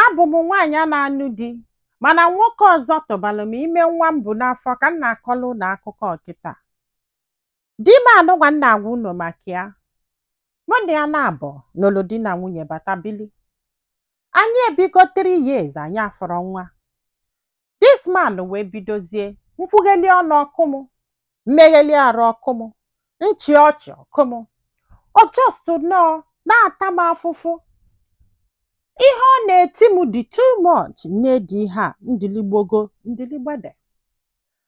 abụ m nwaanyị a na-anụ di mana nwoke ọzọ tụbalụ m ime nwa m bu n'afọ ka m na-akọlụ unu akụkọ kịta di m anụnwa m na-agwa unu maka ya mụ na ya naabọ nụlụ di na nwunye bata bili anyị ebigo 3 years anyị afụrọ nwa this man wee bidozie m kwugheli ọnụ ọ kụọ m m megheli arụ ọ kụọ m m chịa ọchị ọ kụọ m ọ just nọọ na-ata m afụfụ ihe ọ na-eti m dị too much na-edi ihe a ndiligbogo ndiligbede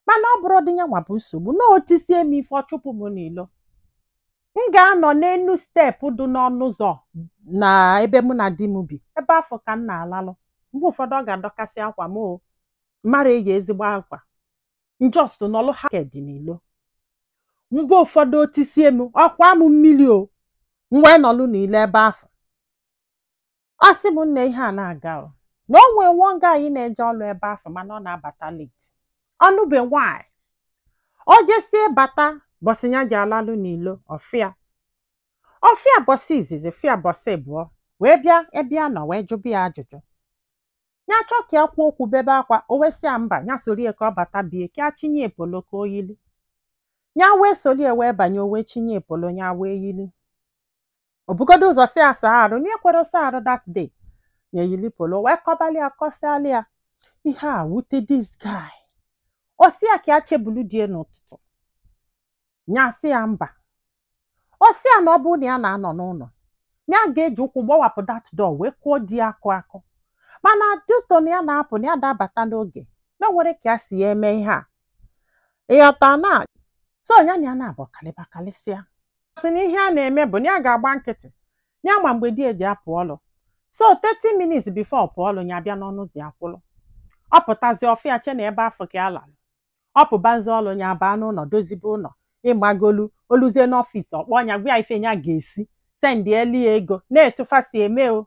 mana ọ bụrọdị ya nwa bụ nsogbu na o tisie m ife ọ chụpụ m n'ilo m ga-anọ n'enu step dị n'ọnụ ụzọ na ebe mụ na di m bi ebe afụ ka m na-alalụ mgbe ụfọdụ ọ ga-adọkasị akwa m o m ara eyi ezigbo akwa m just nọlụ naked n'ilo mgbe ụfọdụ o tisie m ọ kwaa m mmiri o m wee nọlụ n'ilo ebe afụ ọ sị m na ihe a na-aga o na o nwee nwa guy na-eje ọlụ ebe afụ mana ọ na-abata late ọ nụbe nwanyị o jesie bata ụbọsị ya ji alalụ n'ilo ọ fụ ya ọ fụ ya ụbọsị izizi fụ ya ụbọsị ịbụọ wee bịa ebe ya nọ wee jụba ya ajụjụ ya chọọ ka ya kwuo okwu bebe akwa o wee sị ya mba ya sorie ka ọ bata be ya ka ya chinye ya polo ka o yili ya wee solie wee banye o wee chinye ya polo ya wee yili o bugodu ụzọ sị ya saa arụ na ekwerọ saa arụ that day ya eyili polo wee kọbalụ ya kọsịalụ ya ihe a wute this guy ọ sị ya ka ya chebulu di ya n'ụtụtụ ya sị ya mba ọ sị ya na ọ bụrụ na ya na-anọ n'ụnọ ya ga-eji ụkwụ gbawapụ that door wee kụọ di ya akụ akụ mana due to na ya na-apụ na ya ada abata n'oge na o nwerọ ka ya si ya eme ihe a ịghọta na so ya na ya naabọ kalịba kalịsịa sị na ihe a na-eme bụ na ya ga-agba nkịtị ya ma mgbe di ya ji apụ ọlụ so 30 minutes before ọ pụọ ọlụ ya bịa n'ọnụ ụzọ ya kwụrụ ọ pụtazi ọ fụ ya chee na ebe afụ ka ya larụ ọ pụbazi ọlụ ya baa n'ụnọ dozibe ụnọ ịgbagolu o luzie n'office ọ kpọọ ya gwa ya ife ya ga-esi sendịelụ ya ego na etu fa si eme o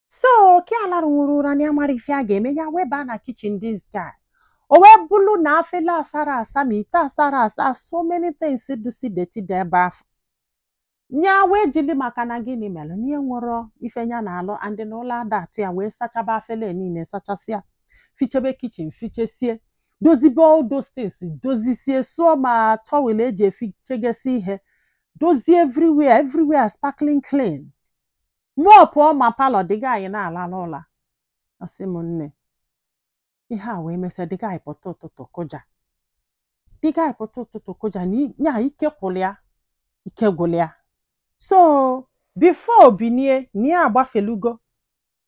so ka ya larụnwurọ ụra na ya amarọ ife ya ga-eme ya wee baa na kitchen this guy o wee bụrụ na afele asarọ asa ma ite asarọ asa so many things dịsị dirty dị ebe afụ nya wee jili maka na gịnị mere na o nwerọ ife nya na-alụ and na ụla ada atụ ya wee sachaba afele niile sachasịa fichebe kitchen fichesie dozibe all those things dozisie sụọ ma towel eji efichegesi ihe dozie everywhere everywhere sparkling clean mụ ọ pụọ ma parlour the guy na-alalụ ụla ọ sị m nne ihe a wee mesịa the guy pụta ụtụtụ kụja the guy pụta ụtụtụ kụja na i- ya ike gwụrụ ya ike gwụrụ ya so before o binie na ya agbafelugo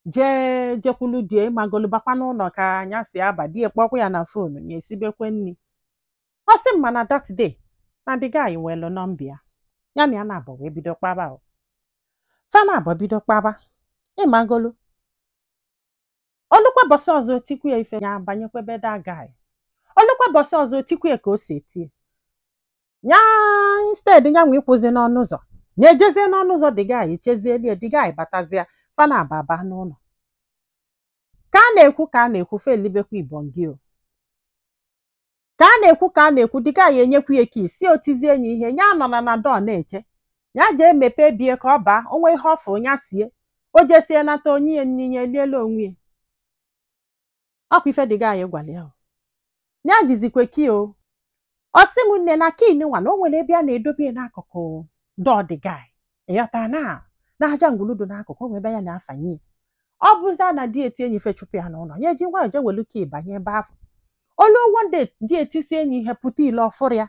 jee jekwulu di ya ịmagolu bakwa n'ụnọ ka nya si aba di ya kpọkwa ya na phone ya esibekwe nri ọ sị m mana that day na the guy welu nọmba ya ya na ya naabọ wee bido kpaba o fa naabọ bido kpaba ịmagolu o lukwa ụbọsị ọzọ o tikwa ya ife ya banyekwa be the guy o lukwa ụbọsị ọzọ o tikwa ya ka o si etie ya instead ya nwa ịkwụzi n'ọnụ ụzọ ya ejezie n'ọnụ ụzọ the guy chezielu ya the guy batazia fa naabọ aba n'ụnọ ka a na-ekwu ka a na-ekwu fa elibekwa ibongi o ka a na-ekwu ka a na-ekwu the guy enyekwu ya key sị o tizie nye ihe ya anọna na door na-eche ya jee mepee be ya ka ọ baa o nwee ihe ọ fụ ya sie o jesie nata o nye ya nni nye elie la onwe ya ọkwa ife the guy gwara ya ya jizikwe key o ọ sị m nne na key nwa na o nwere ebe ya na-edobe ya n'akụkụ door the guy ịghọtara na na aja ngwulu dị n'akụkụ o nwe ebe ya na-afanye ya. ọ bụzia na di ya tie nye ife chụpụ ya n'ụlọ ya eji nwayọ jee welu key banye ebe afụ o lu one day di ya tisie nye ihe pụta ile ọ fụrọ ya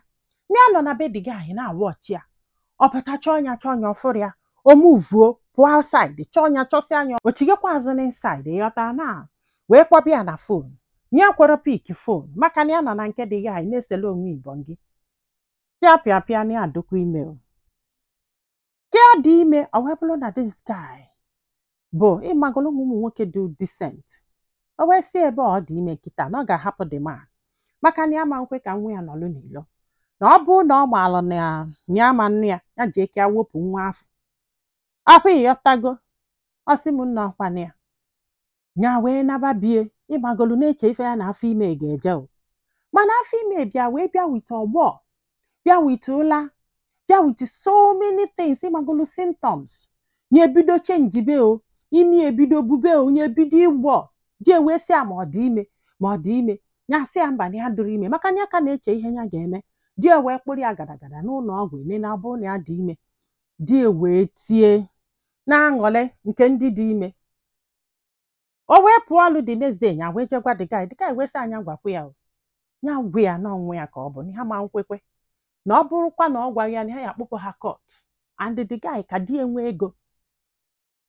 na ya nọ na be the guy na-awụ ọchị ya ọ pụta chọọ ya chọọ ya ọ fụrọ ya o muvuo pụọ outside chọọ ya chọsịa nya o chighakwa azụ na inside ịghọta na wee kpọba ya na phone nye ekwerọ pick phone maka na ya nọ na nke the guy na-esele onwe ibongi pịa pịa pịa nya adịkwa ime o. ka ya dị ime ọ wee bụrụ na this guy bụ ịmagolu ụmụ ụmụ nwoke dị decent o wee sị ebe ọ dị ime kịta na ọ ga-ahapụ the man maka na ya ma nkwe ka nwa ya nọlụ n'ilo na ọ bụrụ na ọ maalụ na ya ma nnụ ya ya ji aka ya wepụ nwa afụ ọkwa ịghọtago ọ sị m nne ọkwanụ ya nya wee naba be ya ịmagolu na-eche ife ya na afọ ime ga-eje o mana afọ ime bịa wee bịa with ọgbọ bịa with ụla bịa with so many things ịmagolu symptoms nye ebido chenjibe o imi ebido bube o nye ebido ịgbọ di ya wee sị ya ma ọ dị ime ma ọ dị ime ya sị ya mba na ya adịrọ ime maka na ya ka na-eche ihe ya ga-eme di ya wee kpụrụ ya gadagada n'ụlọ ọgwụ e nene ọ bụrụ na ya dị ime di ya wee tie na-aṅụrị nke ndị dị ime o wee pụọ ọlụ the next day ya wee jee gwa the guy the guy wee sị nya gwakwa ya o ya gwa ya na ọ nwa ya ka ọ bụ na ha ma nkwekwe na ọ bụrụkwa na ọ gwaghị ya na ha ya-akpụpụ ha court and the guy ka di ya nwee ego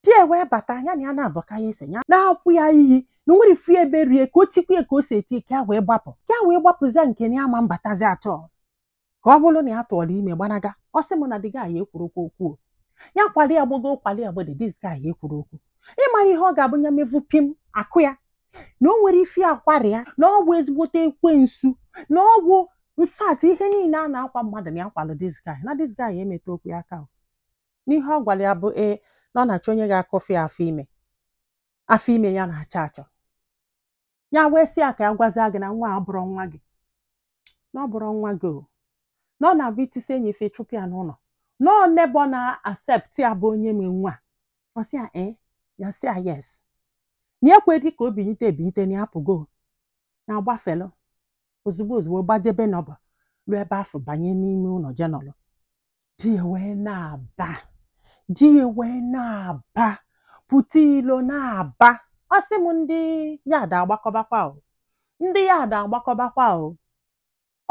di ya wee bata ya na ya naabọ ka ya ese ya na-akwụ ya iyi na o nwere ifu ebe rie ka o tikwa ya ka o si eti ka ya wee gbapụ ka ya wee gbapụzie nke na ya ma mbatazi at all ka ọ bụrụ na ya tụọrọ ime gbanaga ọ sị m na the guy ekwurọkwa okwu ya kwali ya gbogo kwali ya gbede this guy ekwurọ okwu ịmara ihe ọ ga-abụ ya mevu pim akụ ya na o nwere ife akwara ya na ọ bụ ezigbote ekwensu na ọ bụ in fact ihe niile a na-akwa mmadụ na ya kwalụ this guy na this guy emetarọkwa ya aka na ihe ọ gwara ya bụ ee na ọ na-achọ onye ga-akụfe afọ ime afọ ime ya na-achọ achọ ya wee sị ya ka ya gwazie gị na nwa a abụrọ nwa gị na ọ bụrọ nwa gị o na ọ na-abụ i tisie ya ife chụpụ ya n'ụlọ na ọ neighbour na-accept ya bụ onye nwe nwa ọ sị ya ee ya sị ya yes ya ekwedị ka o binite ebinite na ya pụgo na-agbafe ilo ozugbo ozugbo gbaje be neighbour ruo ebe afụ banye n'ime ụlọ je nọlụ di ya wee na-aba di ya wee na-aba pụta ilo na-aba ọ sị m ndị yard agbakọbakwa o ndị yard agbakọbakwa o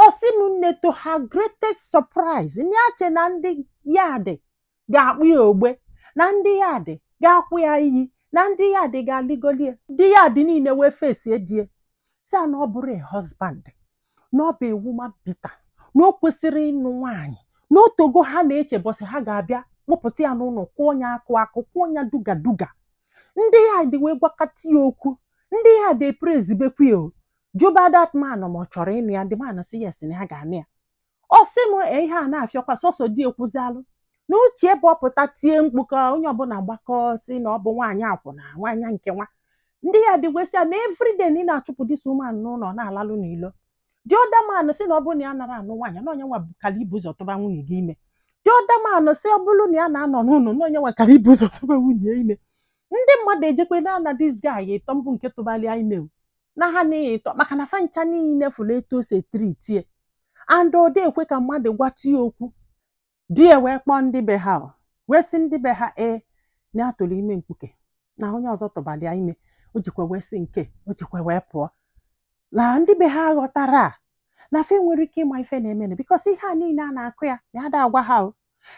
ọ sị m nne to her greatest surprise ya eche na ndị yard ga-akpụ ya ogbe na ndị yard ga-akwụ ya iyi na ndị yard ga-alịgoli ya ndị yard niile wee fesie di ya sị ya na ọ bụrọ a husband na ọ bụ a woman beater na o kwesịrọ ịnụ nwaanyị na o tego ha na-eche ụbọsị ha ga-abịa kpụpụta ya n'ụlọ kụọ ya akụ akụ kụọ ya duga duga ndị yard wee gwakọta ya okwu ndị yard prezibekwu ya o jụba that man ma ọ chọrọ ịnụ ya the man sị yes na ya ga-anụ ya ọ sị m "Ee, ihe a na-afịọkwa sọsọ di ekwuzialụ na uche ebe ọ pụta tie mkpu ka onye ọbụla gbakọ sị na ọ bụ nwaanyị akwụna nwaanyị nke nwa ndị yard agwasị ya na everyday na ị na-achụpụ this woman n'ụlọ na-alalụ n'ilo the other man sị na ọ bụrụ na ya nara anụ nwaanyị na ọ ya nwa kara ibu ụzọ tụba nwunye gị ime the other man sị ọ bụrụ na ya na-anọ n'ụlọ na ọ ya nwa kara ibu ụzọ tụba nwunye ya ime ndị mmadụ ejekwe na-ana this guy ịtọ mbụ nke tụbalụ ya ime o. na ha na-eyi ịtọ maka na fa ncha niile fụrụ etu o si etriti ya and ọ da ekwe ka mmadụ gwatụ ya okwu di ya wee kpọọ ndị be ha o, wee sị ndị be ha ee na ya tụrụ ime mkpuke na onye ọzọ tụbara ya ime o jikwa wee sị nke o jikwa wee pụọ na ndị be ha aghọtarọ ya na fa enwerọ ike ịma ife na-emenụ because ihe a niile a na-akụ ya na ya da agwa ha o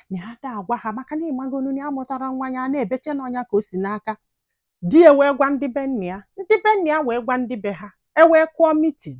na ya da agwa ha maka na ịmagonu na ya amụtarọ nwa ya na-eche na ọ ya ka o si n'aka di ya wee gwa ndị be nna ya ndị be nna ya wee gwa ndị be ha e wee kụọ meeting